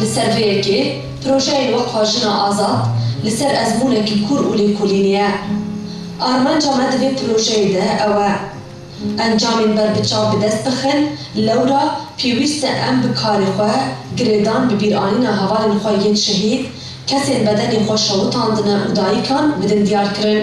Li ser vê yekê, projeyên wekha Jina Azad li ser ezmûnekî kûr û lêkolînê ye. Armanca me di vê projeyê de ew e, encamên berbiçav bi dest bixin, lewra pêwîst e em bi karê xwe girêdan bi bîranîna hevalên xwe yên şehîd, kesên bedenê xwe şewitandine û dayikan bidin diyarkirin.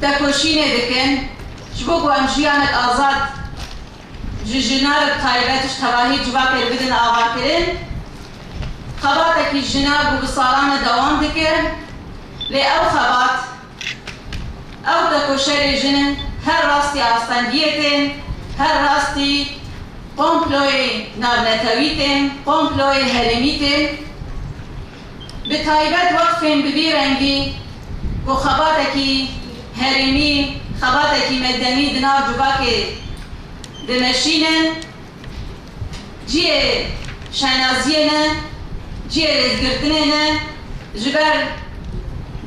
Tekoşînê dikin ji bo ku em jiyanek azad ji jina re bi taybet ji tevahî civakê re bidin avakirin. Xebatekî jina ku bi salan e dewam dike lê ew xebat, ew tekoşerê jin in her rastî astengiyê tên, her rastî komployê navnetewî tên, komployê herêmî tên. bi taybet weqfên bi vî rengî ku xebatekî herêmî, xebatekî medenî di nav civakê dimeşînin, ciyê şenaziyê ne, ciyê rêzgirtinê ne, ji ber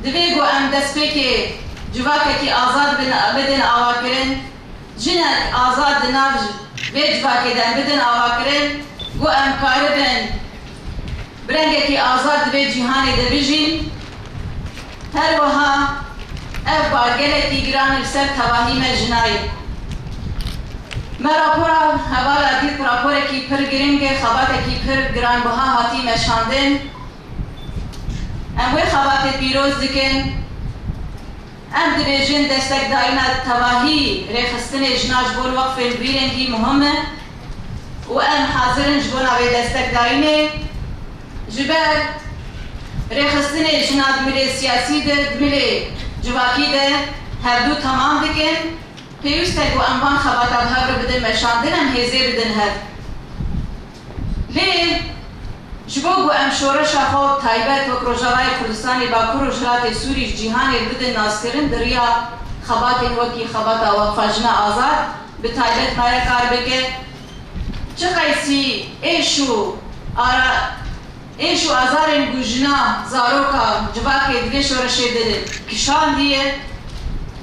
divê ku em destpêkê civakekî azad bin bidin awakirin. Jinek azad di nav vê civakê de bidin avakirin ku em karibin bi rengekî azad di vê cîhanê de bijîn. Her wiha ev bar gelekî giran li ser tevahî me jinayê. Me rapora hevala dît raporekî pir giring e, xebatekî pir giranbiha hatî meşandin. Em wê xebatê pîroz dikin. Em dibêjin destekdayîna tevahî rêxistinê jinan ji bo weqfên bi vî rengî muhim e û em hazir in ji bona vê destekdayînê ji ber rêxistinê jinan di milê siyasî de, di milê civakî de hevdu temam dikin. Pêwîst e ku em van xebata bi hev re bidin meşandin, em hêzê bidin hev. Lê ji bo ku em şoreşa xwe taybet wek Rojavayê Kurdistanê, Bakur û Rojhilatê Sûrî ji cîhanê re bidin naskirin di riya xebatên wekî xebata Weqfa Jina Azad bi taybet maye kar bike. Çi qeysî êş û êş û azarên ku jina, zaroka, civakê di vê şoreşê de kişandiye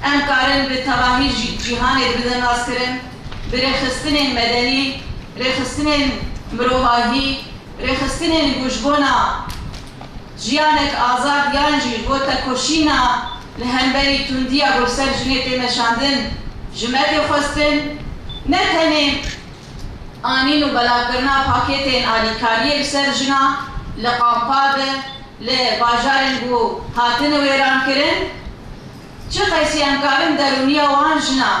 em karin bi tevahî ji cîhanê re bidin naskirin. bi rêxistinên medenî, rêxistinên mirovahî, rêxistinên ku ji bona jiyanek azad yan jî ji bo tekoşîna li hemberî tundiya ku li ser jinê tê meşandin ji me tê xwestin, ne tenê anîn û belavkirina pakêtên alîkariyê li ser jinan li kampa de li bajarên ku hatine wêrankirin, çi qesiyan karin derûniya wan jinan.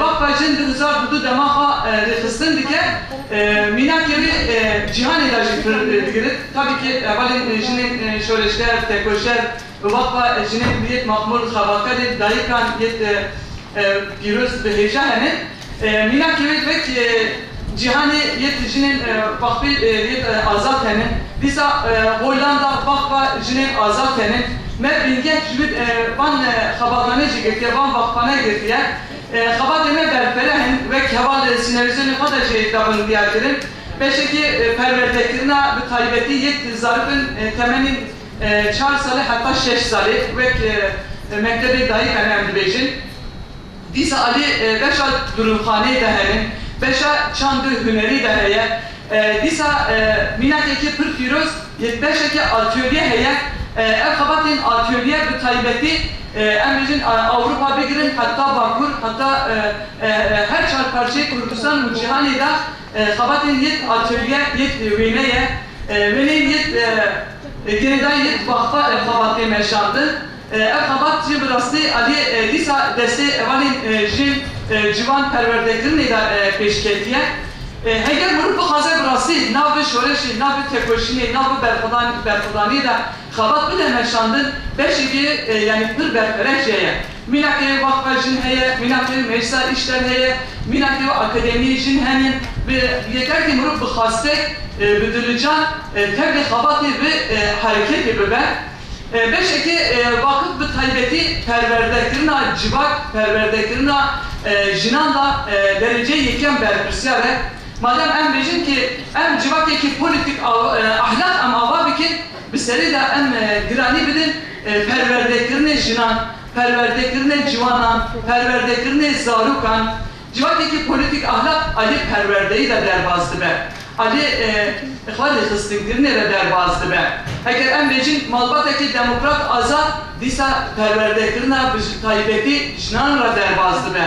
Vaqfa Jin di Uzak bi du dema xwe rêxistin dike. Mînakê wê cîhanê de jî pir digirit. Tabî ki hevalên jinên şoreşger, tekoşer bi vaqfa jinên ku yek maxmûr xebatkarên dayikan yek pîroz bi hêja hene. Mînakê wê wek Cîhanê yek jinên Baqbî yek azad hene. Dîsa Hollanda Baqba jinên azad hene. Me bingeh ji bin van xebatane jî girtiye, van vaqbane girtiye. Xebatên me berfireh in, wek heval li sînarîzyonê xwe de jî dabin diyar kirin. Beşekê perwerdekirina bi taybetî yek zarok in temenên çar salî heta şeş salî wek mektebê dayîkan em dibêjin. Dîsa alî beşa dirûxanê de hene, beşa çandê hunerî de heye. Dîsa mînakekê pir pîroz yê beşeke atölye heye. Ev xebatên atölye bi taybetî em bêjin Ewropa bigirin heta Bakur heta her çar parçeyê Kurdistan û cîhanê de xebatên yê atölye yê wêne ye. Wêneyên yê girêdayî yê vaxfa ev xebatê meşandin. Ev xebat jî bi rastî aliyê dîsa destê hevalên jin, ciwan perwerdekirinê de pêş ketiye. Heger mirov bixwaze bi rastî nav bi şoreşê, nav bi tekoşînê, nav bi berxwedanê de xebat bide meşandin, beşekê yanî pir berfireh jî heye. Mînakê wexfa jin heye, mînakê meclisa îşler heye, mînakê û akademiyê jin hene. Bi yekertî mirov bi xastek, bi dilican tevlî xebatê bi hereketê bibe. Beşeke vakif bi taybetî perwerdekirina civak, perwerdekirina jinan da dereceyê yekem berpirsyar e. Madem em bêjin ke em civakekî polîtîk a ahlak em ava bikin, bi serê de em giranî bidin perwerdekirinê jinan, perwerdekirinê ciwanan, perwerdekirinê zarokan. Civakekî polîtîk ahlak aliyê perwerdeyî ve derbas dibe, aliyê xwe rêxistinkirinê ve derbas dibe. Heger em bêjin malbatekî demokrat azad, dîsa perwerdekirina bi taybetî jinan re derbas dibe.